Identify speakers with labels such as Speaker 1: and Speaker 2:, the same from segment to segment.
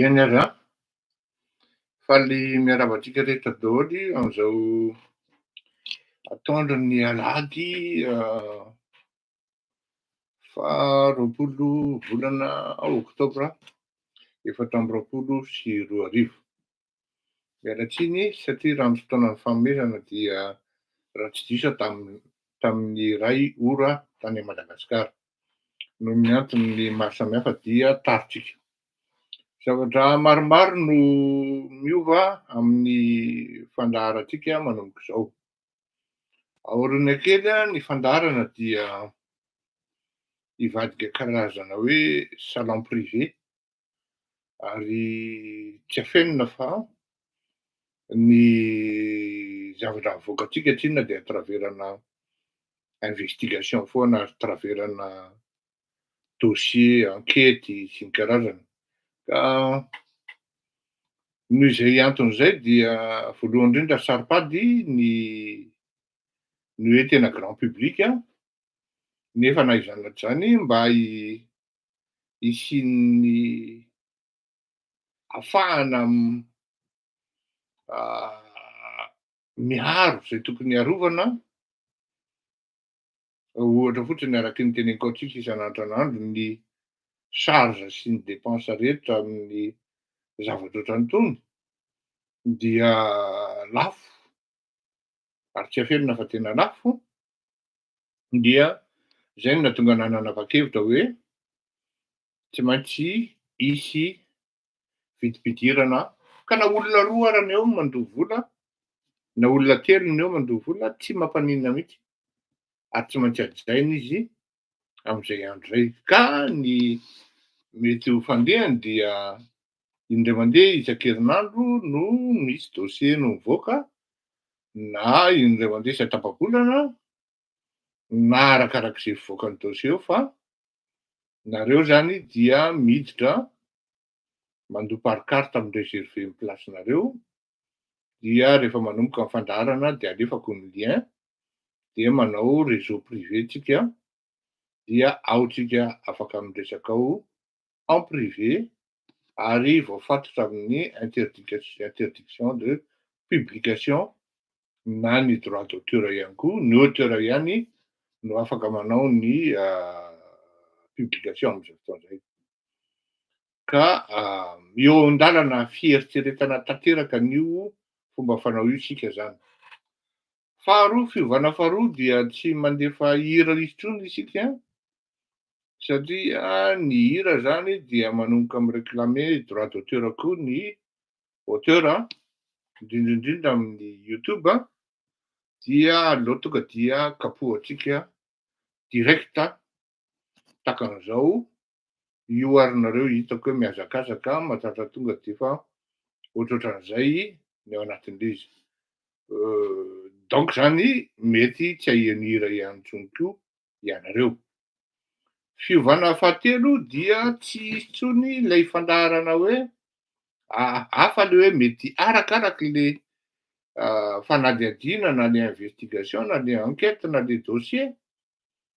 Speaker 1: Eny ary an! Faly miarahaba antsika rehetra daholo amin'izao atoandro ny alahady faha roapolo volana oktobra efatra amby roapolo sy roa arivo. Miala tsiny satria raha ny fotoanan'ny fanomezana dia raha tsy diso aho tamin'ny tamin'ny iray ora tany Madagasikara. Noho ny antony maro samihafa dia taritsika. Zavatra maromaro no miova amin'ny fandaharantsika manomboka izao. Aoriana kely ny fandaharana dia hivadika karazana hoe salon privé ary tsy afenina fa ny zavatra avoakantsika tsy inona dia traverana investigation foana ary traverana dossier, ankety sy ny karazany. Ka noho izay antony izay dia voalohany indrindra ry Saropady ny ny hoe tena grand public nefa na izany na tsy izany mba hisian'ny afahana miaro izay tokony hiarovana, ohatra fotsiny araky ny teneniko antsika isan'andro isan'andro ny charge sy ny dépense rehetra amin'ny zavatra ohatran'itony dia lafo ary tsy afenina fa tena lafo, dia izay no nahatonga anah nanava-kevitra hoe tsy maintsy hisy vidim-pidirana aho. Ka na olona roa ara ny eo mandoa vola, na olona telo ny eo mandoa vola, tsy mampaninona mihitsy, ary tsy maintsy hajaina izy amin'izay andro izay. Ka ny mety ho fandehany dia indray mandeha isan-kerinandro no misy dossier no mivoaka na indray mandeha isan-tapa-bolana na arakarak'izay fivoakan'ny dossier eo fa nareo zany dia miditra mandoa par carte amin'ny reserver ny place-nareo dia rehefa manomboka ny fandaharana dia alefako ny lien dia manao réseau privé tsika dia ao tsika afaka miresaka ao en privé ary voafatotra amin'ny interdiction de publication na ny droit d'auteur ihany koa, ny auteur ihany no afaka manao ny publication amin'izao fotoana izay. Ka eo an-dalana fieritreretana tanteraka an'io fomba fanao io isika izany. Faharoa, fiovana faharoa dia tsy mandefa hira intsony isika satria ny hira zany dia manomboka mi reclamer droit d'auteur koa ny auteur an, indrindra indrindra amin'ny youtube an, dia aleo tonga dia kapohantsika direct takan'izao io ary nareo hitako hoe mihazakazaka matratra tonga defa ohatrohatran'izay ny ao anatin'ilay izy donc zany mety tsy ahian'ny hira ihany tsony koa ianareo fiovana fahatelo dia tsy hisy tsony ilay fandaharana hoe hafa le hoe mety arakaraky le fanadihadiana na le investigation na le enquête na le dossier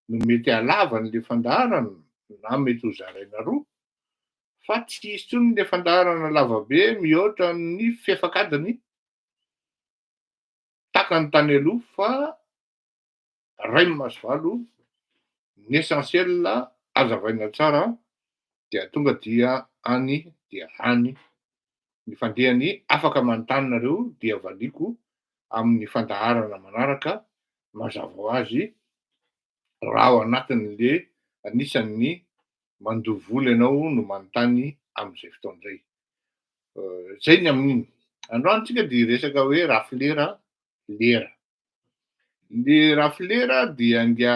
Speaker 1: no mety halavany le fandaharana na mety ho zaraina roa fa tsy hisy tsony le fandaharana lavabe mihoatra ny fefakadiny takany tany aloha fa ray maso valo ny essentiel azavaina tsara dia tonga dia any dia any Ny fandehany afaka manontany nareo dia valiako amin'ny fandaharana manaraka mazava ho azy raha ao anatiny le anisan'ny mandoa vola ianao no manontany amin'izay fotoana izay. Zay ny amin'iny. Androany tsika dia hiresaka hoe rafilera lera. Le rafilera dia ngia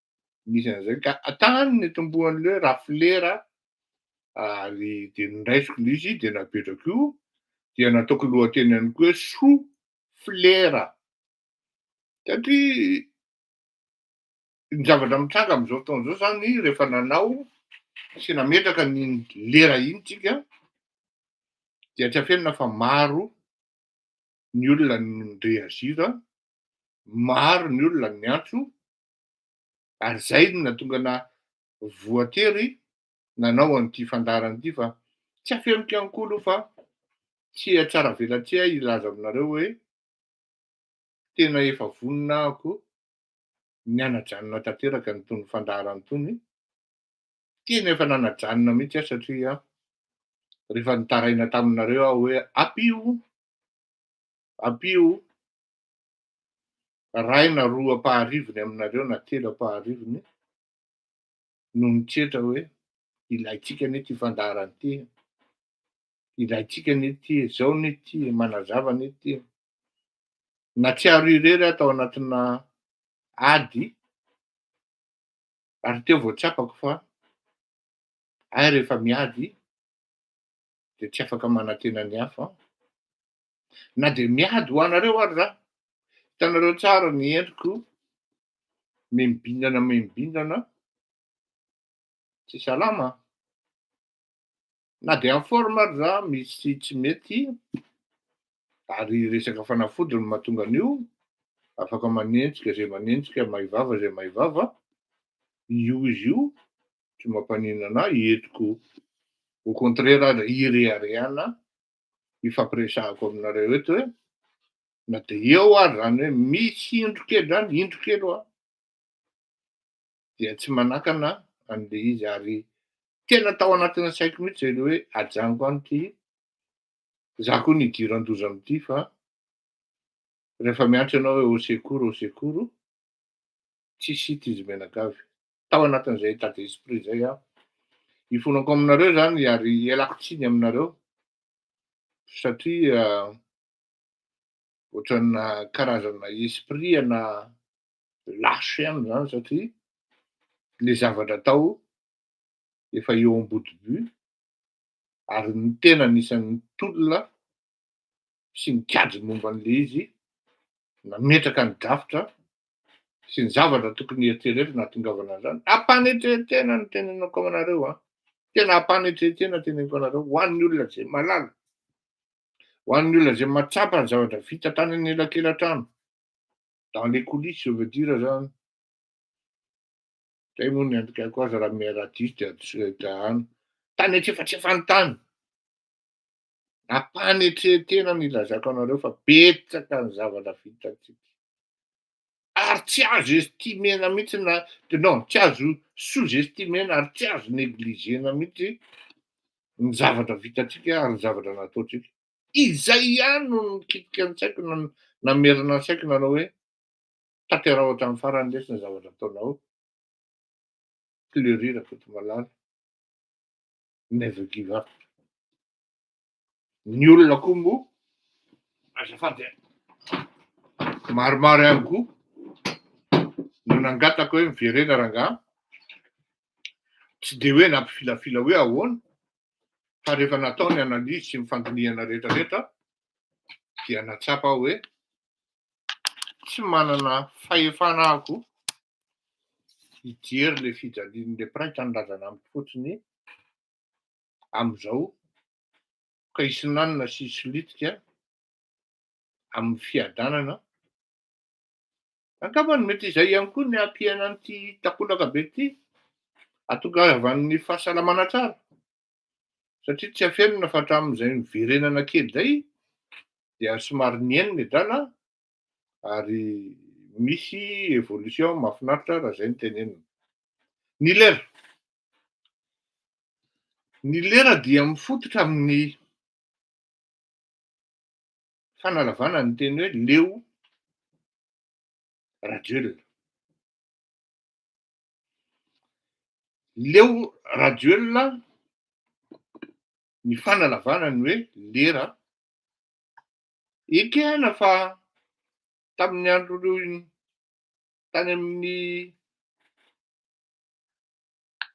Speaker 1: misy an'izay ka tany nitomboan'ilay hoe raflera ary dia nondraisiko ilay izy dia napetrako io dia nataoko lohateny ihany koa hoe sou flera satria ny zavatra mitranga amin'izao fotoana izao zany rehefa nanao sy nametraka ny lera iny tsika dia tsy afenina fa maro ny olona ny reagir maro ny olona ny antso ary izay no nahatonga na voatery nanao an'ity fandaharana ity fa tsy afeniko ihany koa aloha fa tsy hatsaravelatsihy ahy hilaza aminareo hoe tena efa vonona ahako ny hanajanona tanteraka an'itony fandaharana itony, tena efa nanajanona mihitsy aho satria rehefa nitaraina taminareo aho hoe ampio, ampio iray na roa ampaharivony aminareo na telo ampaharivony no nitretra hoe ilaintsika anie ity fandaharana ity, ilaintsika anie ity, izao anie ity, manazava anie ity. Natsiaro irery aho tao anatina ady ary teo vao tsapako fa ahy rehefa miady dia tsy afaka manantena ny hafa Na dia miady ho anareo ary za. Hitanareo tsara ny endriko, mimibindana mimibindana, tsy salama. Na dia en forme ary za, misy tsy mety, ary resaka fanafody no mahatonga an'io, afaka manenjika izay manenjika, mahay vava izay mahay vava, io izy io, tsy mampaninona anah, entiko au contraire aza ireharehanah ifampiresahako aminareo eto hoe na dia eo ary zany hoe misy indro kely zany indro kely hoa dia tsy manakana an'le izy ary tena tao anatina saiko mihitsy zay le hoe ajanoko any ty za koa ny idiran-doza amity fa rehefa miantso ianao hoe au secours au secours tsisy hita izy mianakavy tao anatin'izay état d'esprit izay aho. Ifonako aminareo izany ary ialako tsiny aminareo satria ohatrana karazana esprit ana lâche ihany izany satria le zavatra atao efa eo am-boto-by ary ny tena anisan'ny tolona sy nikajy momba an'ilay izy, nametraka ny drafitra sy ny zavatra tokony hieritreretina hahatongavana an'izany. Ampanetrehetena no teneniko aminareo an. Tena ampanetrehetena teneniko anareo ho an'ny olona izay malala, ho an'ny olona izay mahatsapa ny zavatra vita tany anelakelan-trano, dans les coulisses je veux dire izany. Zay moa ny andikaiko azy raha miha-radiste dia adosireo dahany. Tany antsefatsefany tany. Ampanetren-tena ny ilazako anareo fa betsaka ny zavatra vitantsika. Ary tsy azo estimer-na mihitsy na non, tsy azo sous-estimer-na ary tsy azo negliger-na mihitsy ny zavatra vitantsika ary ny zavatra nataontsika. Izay ihany no nikitika ny saiko na namerina ny saiko nanao hoe tanteraho hatramin'ny farany lesy ny zavatra ataonao Fleury Rakotomalala. never give up. Ny olona koa moa azafady a, maromaro ihany koa no nangataka hoe miverena rangahy, tsy dia hoe nampifilafila hoe ahoana fa rehefa natao ny analyse sy ny fandinihana rehetrarehetra dia nahatsapa aho hoe tsy manana fahefana aho hijery ilay fijalian'ilay mpiray tanindrazana amiko fotsiny amin'izao ka hisinanina sy hisolitika amin'ny fiadanana. Angamba ny mety izay ihany koa ny hampiaina an'ity takolaka be ity hahatongavan'ny fahasalamana tsara. satria tsy afenina fa hatramin'izay niverenana kely izay dia somary nihena ny drala ary misy évolution mahafinaritra raha izay ny tenenina. Ny lera. Ny lera dia mifototra amin'ny fanalavana ny teny hoe leo Rajoelina. Leo Rajoelina ny fanalavana ny hoe lera. Ekena fa tamin'ny andron'ny tany amin'ny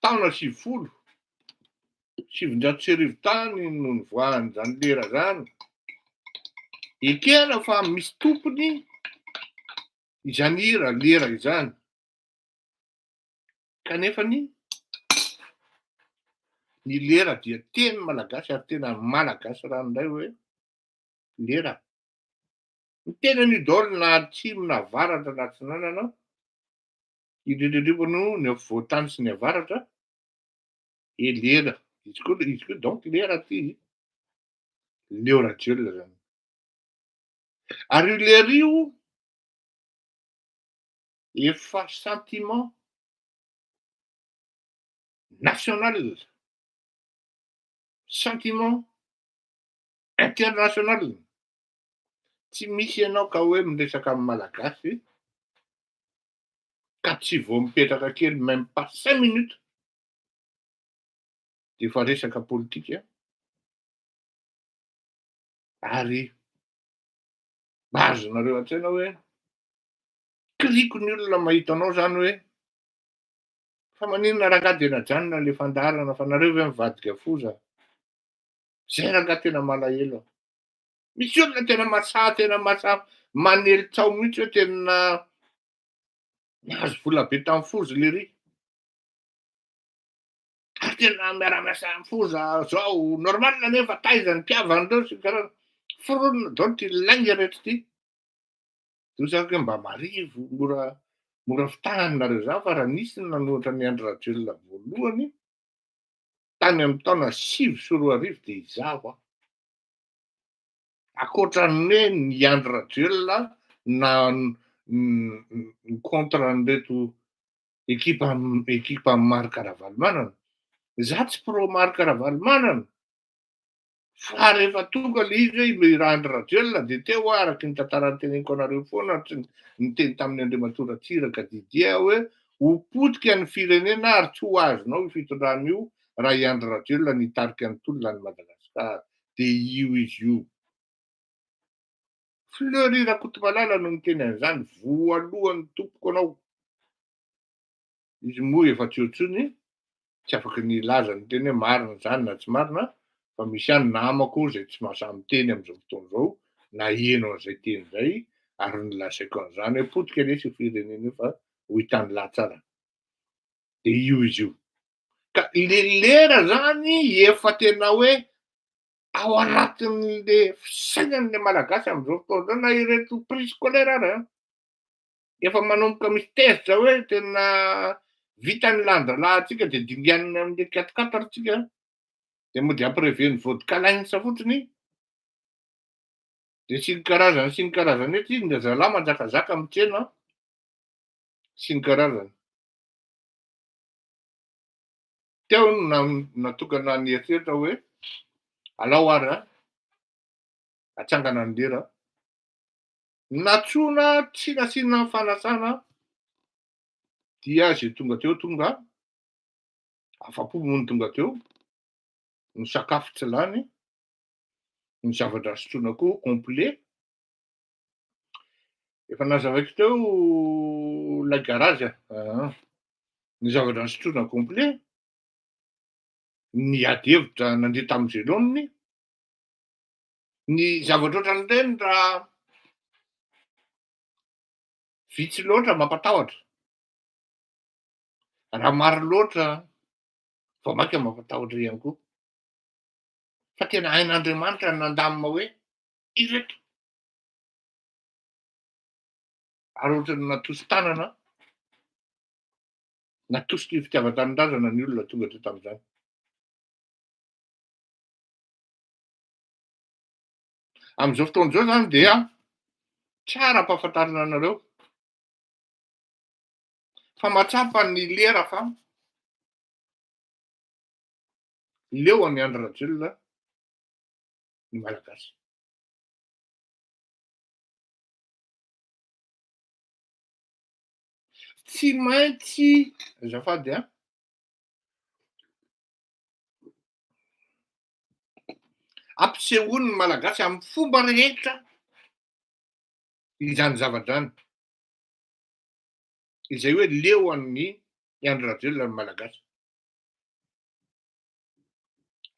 Speaker 1: taona sivifolo sy sivinjato sy arivo tany no nivoahany izany lera izany. Ekena fa misy tompony izany hira lera izany. Kanefa ny ny lera dia teny malagasy ary tena malagasy ranoray hoe lera. Ny teny an'io daholo na atsimo na avaratra na atsinanana, indrindra indrindra no ny afovoan-tany sy ny avaratra, e lera. Izy koa izy koa donc lera ty Leo Rajoelina zany. Ary io lera io efa sentiment national, sentiment international, tsy misy ianao ka hoe miresaka amin'ny Malagasy ka tsy vao mipetraka kely même pas cinq minutes dia efa resaka politika ary mahazo nareo an-tsaina hoe Kiriko ny olona mahita anao zany hoe fa maninona rangah dia najanona le fandaharana fa nareo ve mivadika foza zay rangah tena malahelo aho misy olona tena masaha tena masaha manely tao mihitsy hoe tena nahazo vola be tamin'ny foza le ry ary tena miaramiasa amin'ny foza zao normal nefa taiza ny mpiavan'ireo sy ny karazana foronina donc ilaigna rehetra ity Toa izany hoe mba marivo, mora mora fitahany nareo izany fa raha nisy ny nanohatra an'i Andry Rajoelina voalohany tany amin'ny taona sivy sy roa arivo dia izaho aho. Ankoatra ny hoe ny Andry Rajoelina na ny contre an'ireto ekipa ekipa Marc Ravalomanana. Izaho tsy pro Marc Ravalomanana Fa rehefa tonga ilay izy hoe ilay rà Andry Rajoelina dia teo aho araka ny tantara noteneniko anareo foana ary tsy niteny tamin'i Andriamatoa Ratsiraka Didier aho hoe ho potika ny firenena ary tsy ho azonao io fitondrana io raha i Andry Rajoelina no hitarika ny tolona an'i Madagascar dia io izy io. Fleury Rakotomalala no niteny an'izany voalohany tompoko anao. Izy moa efa tsy eo intsony, tsy afaka ny hilaza ny teny hoe marina izany na tsy marina, fa misy ihany namako izay tsy mahasahy miteny amin'izao fotoana izao, naheno an'izay teny izay, ary nolazaiko an'izany hoe potika lesy io firenena io fa hoy tany lahatsarany. Dia io izy io. Ka le lera zany efa tena hoe ao anatin'le fisainan'le malagasy amin'izao fotoana izao na ireto priscolaire ara. Efa manomboka misy tezitra hoe tena vita ny lanjalahintsika dia dinganina amin'ilay quatre quatre tsika dia mody ampirever ny vodka lines fotsiny dia sy ny karazany sy ny karazany hoe ty ny zalahy manjakazaka amin'ny tsena sy ny karazany teo no natokana ny eritreritra hoe alao ary atsangana ny lera Natsoina tsy nasiana fanasana dia izay tonga teo tonga afa-po moa ny tonga teo, ny sakafo tsy lany, ny zavatra sotroina koa complet. Efa nazavaiko teo ilay garage a, ah, ny zavatra sotroina complet, ny ady hevitra nandeha tamin'ny veloniny, Ny zavatra ohatran'ireny raha vitsy loatra mampatahotra, raha maro loatra vao mainka mampatahotra ihany koa. Fa tena hain'Andriamanitra ny nandamina hoe ireto. Ary ohatran'ny natosi-tanana, natositry ny fitiavan-tanindrazana ny olona tonga teto amin'izany. Amin'izao fotoana izao izany dia tsara ampahafantarina anareo fa mahatsapa ny lera fa leo an'i Andry Rajoelina ny Malagasy. Tsy maintsy azafady an. ampisehoan' ny Malagasy amin' ny fomba rehetra izany zava-drano izay hoe leo an' i Andry Rajoelina ny Malagasy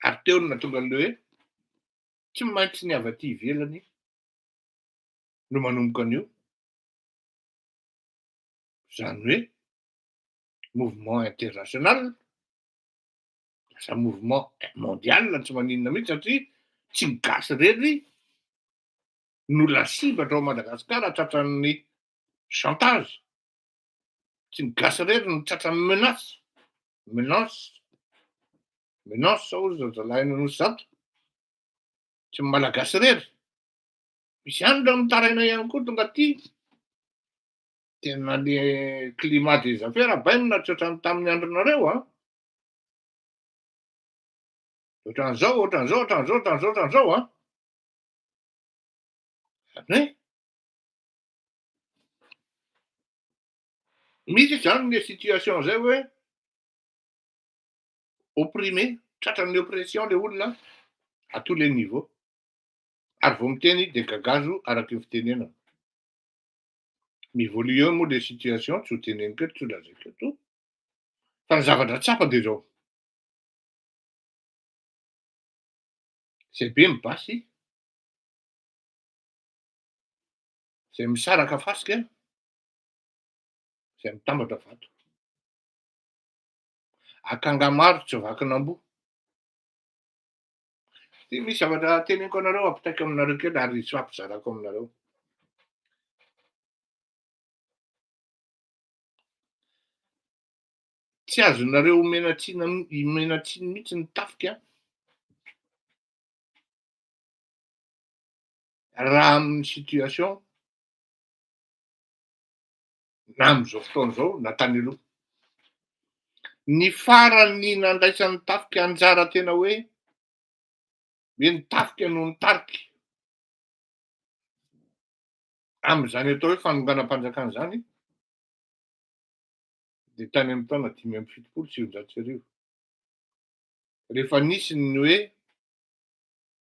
Speaker 1: ary teo no nahatonga an' ilay hoe tsy maintsy ny avy aty ivelany no manomboka an' io, izany hoe mouvement international. Lasa mouvement mondial ny tsy maninona mihitsy satria tsy ny gasy irery no lasibatra ao Madagasikara tratran'ny chantage. Tsy ny gasy irery no tratran'ny menace. Menace. Menace hoy ry zazalahy any Anosy Zato. Tsy ny malagasy irery. Misy any ireo mitaraina ihany koa tonga aty. Tena le climat des affaires bainina tsy ohatran'ny tamin'ny andronareo an. Ohatran'izao, ohatran'izao, ohatran'izao, ohatran'izao, ohatran'izao an. Zany hoe misy izany le situation zay hoe opprimé, tratran'ny oppression le olona à tous les niveaux. Ary vao miteny izy dia gagazo araka io fitenenana. Mi-évolue moa le situation, tsy ho teneniko eto, tsy ho lazaiko eto. Fa ny zavatra tsapa dia izao, izay be ny basy, izay misaraka fasika, izay mitambatra vato. Akanga maro tsy vakin'amboa. Dia misy zavatra teneniko anareo ampitaiko aminareo kely ary tsy ampizarako aminareo. Tsy azonareo omena tsiny omena tsiny mihitsy ny tafika raha amin'ny situation na amin'izao fotoana izao na tany aloha. Ny farany nandraisan'ny tafika anjara tena hoe hoe ny tafika no nitarika Amin'izany atao hoe fanonganam-panjakana izany dia tany amin'ny taona dimy amby fitopolo sy sivinjato sy arivo, rehefa nisy ny hoe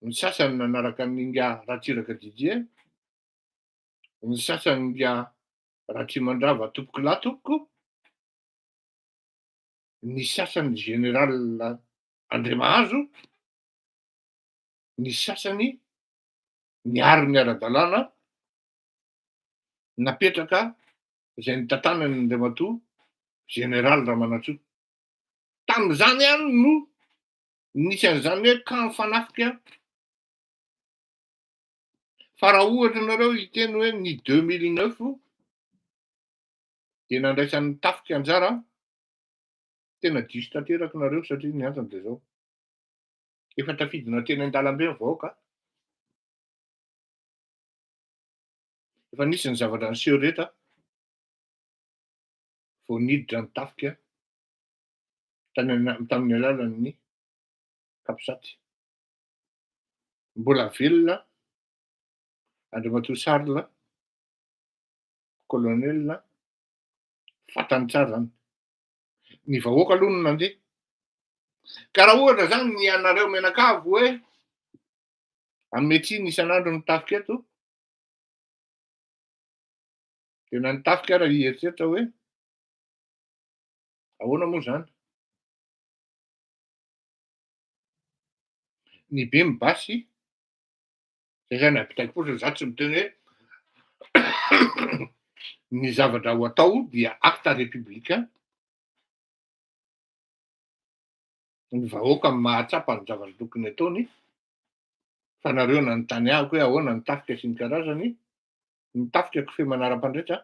Speaker 1: ny sasany nanaraka an'i Inga Ratsiraka Didier, ny sasany Inga Ratrimandrava Tompokolahy-Tompoko, ny sasany Général Andriamahazo, ny sasany miaro ny ara-dalàna napetraka izay nitantanany Andriamatoa Général Ramanantsoa. Tamin'izany ihany no nisy an'izany hoe camp fanafika fa raha ohatra ianareo hiteny hoe ny 2009 dia nandraisan'ny tafika anjara tena diso tanteraka nareo satria ny antony dia zao. Efa tafidina teny an-dalambe ny vahoaka. Efa nisy ny zavatra niseho rehetra vao niditra ny tafika tamin'ny alalan'ny capsat. Mbola velona Andriamatoa Charles, colonel, fantany tsara izany. ny vahoaka aloha no nandeha. Ka raha ohatra zany ny anareo menakavy hoe hanome tsiny isan'andro ny tafika eto, dia na ny tafika ara hieritreritra hoe ahoana moa zany? Ny be mibasy Zay zany apitaiko fotsiny za tsy miteny hoe ny zavatra ho atao dia acte républicain ny vahoaka amin'ny mahatsapa ny zavatra tokony ataony fa nareo nanontany ahiko hoe ahoana ny tafika sy ny karazany ny tafika kofehy manara-pandrehitra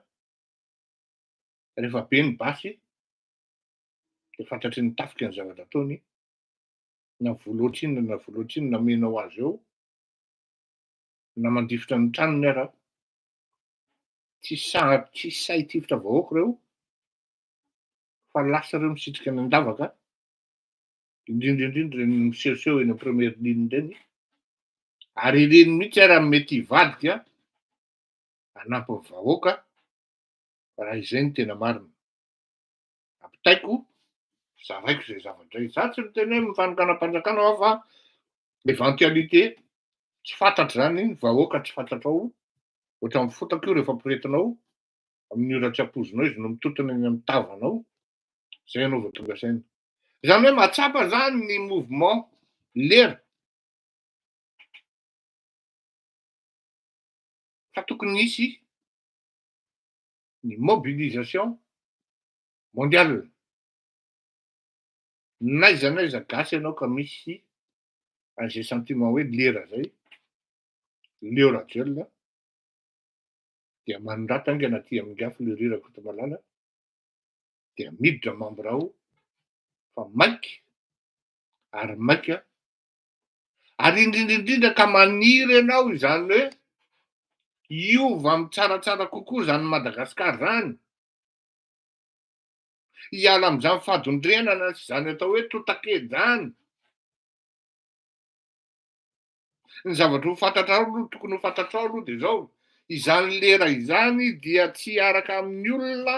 Speaker 1: rehefa be ny basy dia fantatry ny tafika ny zavatra ataony na voa loatra inona na voa loatra inona menao azy eo Na mandifotra ny tranony ara. Tsy sahady tsy sahy hitifitra vahoaka ireo fa lasa ireo misitrika ny andavaka, indrindra indrindra ireny misehoseho eny amin'ny première ligne ireny ary ireny mihitsy ara no mety hivadika hanampy ny vahoaka raha izay no tena marina. ampitaiko, zaraiko izay zavatra izay. Za tsy miteny hoe mifanonganam-panjakana aho fa eventualité tsy fantatra zany, ny vahoaka tsy fantatrao, ohatran'ny fotaka io rehefa ampirehetinao amin'ny ora tsy ampoizinao izy no mitotona eny amin'ny tavanao, zay ianao vao tonga saina. Zany hoe mahatsapa zany ny mouvement lera fa tokony hisy ny mobilisation mondiale. N'aiza n'aiza gasy ianao ka misy an'izay sentiment hoe lera zay, Leo Rajoel a, dia manondrata haingana aty amin'ny afo Leo Ry Rakotomalala, dia miditra membre ao fa maika ary maika Ary indrindra indrindra ka maniry ianao izany hoe hiova amin'ny tsaratsara kokoa izany Madagasikara izany, hiala amin'izany fadondrenana sy izany atao hoe totakely izany. Ny zavatra ho fantatrao aloha, tokony ho fantatrao aloha dia izao, izany lera izany dia tsy hiaraka amin'ny olona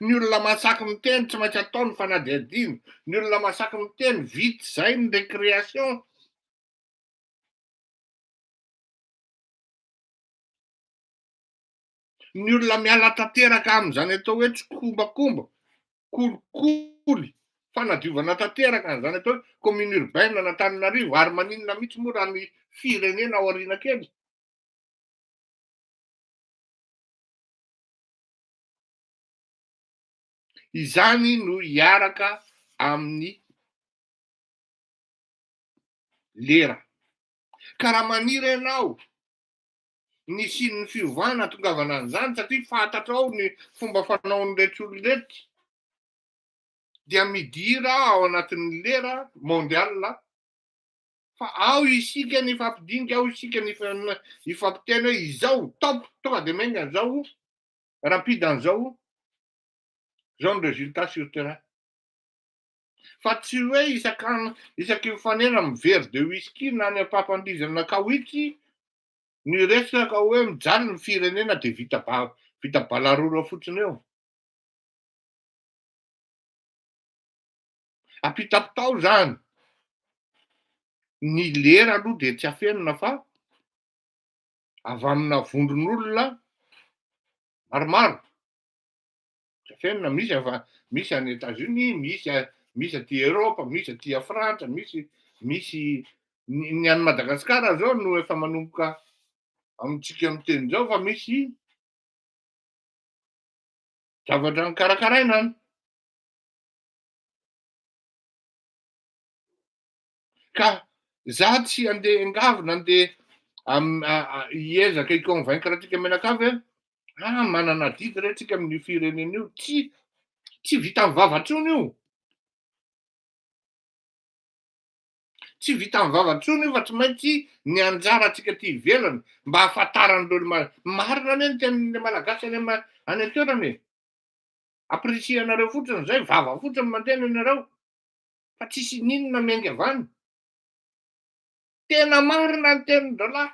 Speaker 1: Ny olona masaky miteny tsy maintsy atao ny fanadihadiana. Ny olona masaky miteny vita izay ny récréation. Ny olona miala tanteraka amin'izany atao hoe tsikombakomba, kolikoly, fanadiovana tanteraka an'izany atao hoe commune urbaine an'Antananarivo ary maninona mihitsy moa raha ny firenena ao aoriana kely. Izany no hiaraka amin'ny lera. Ka raha maniry ianao ny hisian'ny fiovana hahatongavana an'izany satria fantatrao ny fomba fanaon'ireto olona ireto dia midira ao anatin'ny lera mondial fa ao isika ny hifampidinika, ao isika ny hifampitia ny hoe izao, top, tonga dia miainga izao, rapide an'izao, izao ny résultat sur terrain. Fa tsy hoe isak'andro, isaky ny fanera amin'ny verre de whisky na any am-pampandihizana kaoitry ny resaka hoe mijaly ny firenena dia vita ba- vita balarora fotsiny eo. Ampitapitao izany. Ny lera aloha dia tsy afenina fa avy amina vondron'olona maromaro. Trafenina, misy avy misy any États-Unis, misy misy aty Europe, misy aty Frantsa, misy misy ny any Madagasikara zao no efa manomboka amintsika miteny zao fa misy zavatra nikarakaraina any. Ka za tsy andeha engavy nandeha hiezaka i convaincre antsika mianakavy hoe ah manana adidy re tsika amin'io firenena io, tsy tsy vita amin'ny vava intsony io, tsy vita amin'ny vava intsony io fa tsy maintsy ny anjara antsika aty ivelany mba hahafantaran'ireo marina anie ny tenin'ilay malagasy any amin'ny any an-toerana e, apprecier anareo fotsiny izay, vava fotsiny mandehana ianareo. fa tsisy ininona miainga avy any. Tena marina ny tenin-drahalahy.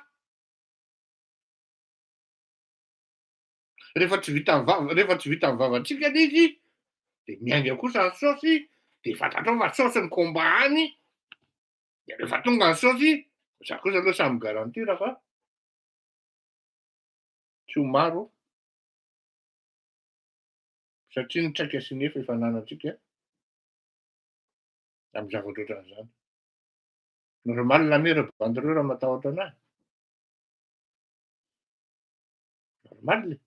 Speaker 1: Rehefa tsy vitan'ny vava, rehefa tsy vitan'ny vavantsika anie izy, dia miainga kosa ny saosy, dia fantatrao fa saosy ny combat any, dia rehefa tonga ny saosy, za kosa aloha samy garantir fa tsy ho maro satria ny traika sy ny efa efa ananantsika amin'ny zavatra ohatran'izany. Nareo maly lamera bandy ireo raha matahotra anahy. Normal e.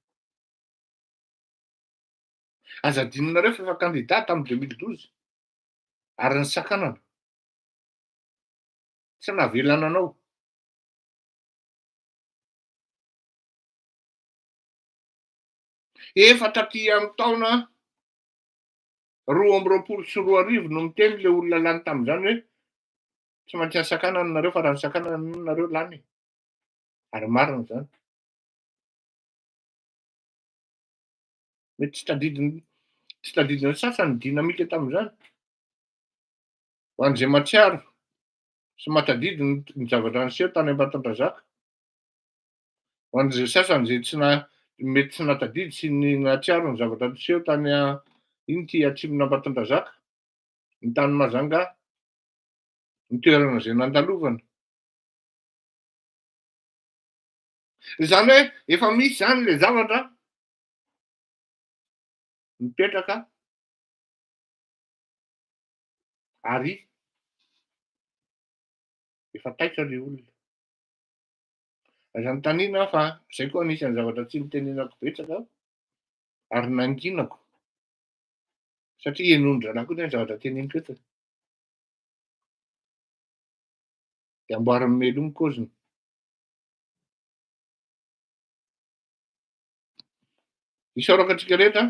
Speaker 1: Aza adinonareo fa efa kandida tamin'ny 2012 ary ny sakanana. Tsy navelana anao. Efa taty amin'ny taona Roa amby roapolo sy roa arivo no miteny ilay olona lany tamin'izany hoe tsy maintsy hasakanana nareo fa raha nisakanana nono nareo lany e. Ary marina izany. Mety tsy tadidiny tsy tadidin'ny sasany dynamique tamin'izany. Ho an'izay mahatsiaro sy mahatadidy ny zavatra niseho tany Ambatondrazaka. Ho an'izay sasany izay tsy na mety tsy nahatadidy sy ny nahatsiaro ny zavatra niseho tany a iny ity Atsimon'Ambatondrazaka, ny tany Majanga, ny toerana izay nandalovana. Izany hoe efa misy izany ilay zavatra mipetraka ary efa taitra ilay olona. Aza anontaniana aho fa izay koa anisan'ny zavatra tsy nitenenako betsaka ary nanginako satria henondranako koa izany zavatra teneniko eto. Dia amboarin'ny melo ny kaoziny. Isaorako antsika rehetra.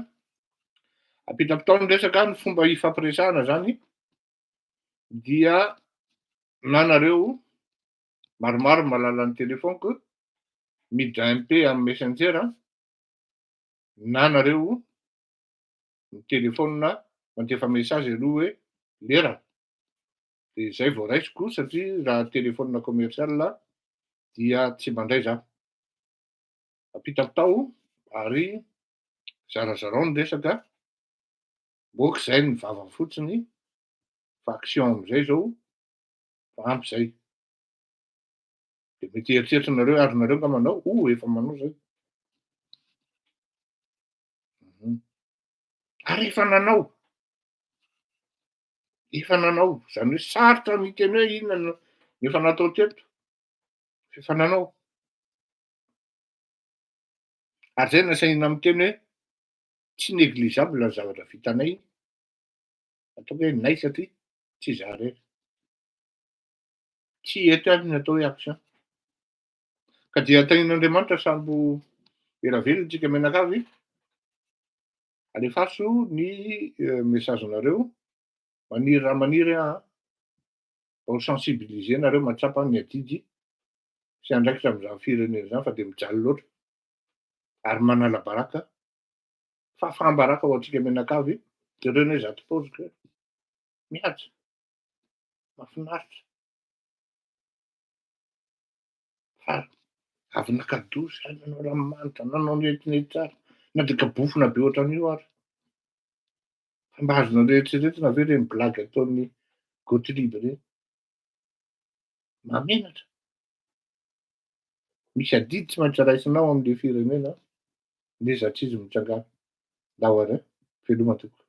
Speaker 1: Ampitam-potoana ny resaka ny fomba hifampiresahana izany dia nanareo maromaro ny mahalala ny telefoniko, miditra MP amin'ny Messenger an, na nareo mi-telephone mandefa message aloha hoe lerana, dia izay vao raisiko satria raha telephone commercial dia tsy mandray za. Ampitampitao ary zarazarao ny resaka, moa k'izay ny vava fotsiny fa action amin'izay izao fa ampy zay de mety eritreritra nareo ary nareo nga manao o efa manao zay mhm. ary efa nanao efa nanao zany hoe sarotra ny teny hoe inona no efa natao teto efa nanao ary zay nasaina amin'ny teny hoe tsy négligeable ny zavatra vitanay ataoko hoe nay satria tsy izaho irery. Tsy eto ihany ny atao hoe action. Ka dia antanin'Andriamanitra sambo ela velona tsika mianakavy. Alefaso ny eh, message-nareo. Maniry raha maniry aho. Mba ho sensibiliser nareo mahatsapa ny adidy sy andraikitra amin'izany firenena izany fa dia mijaly loatra. Ary manala baraka Fahafahambaraka ho antsika mianakavy jereo anie zato paozy kay mihaja mafinaritra fa avy naka dosy hay nanao ranomanitra nanao netinety tsara na dia gabofona be ohatran'io ary fa mba azonareo eritreretina ve ireny blagy ataon'ny gothlieb ireny Mahamenatra. Misy adidy tsy maintsy raisinao amin'ilay firenena ny zatrizy mitsangana. Laware, veloma tompoko.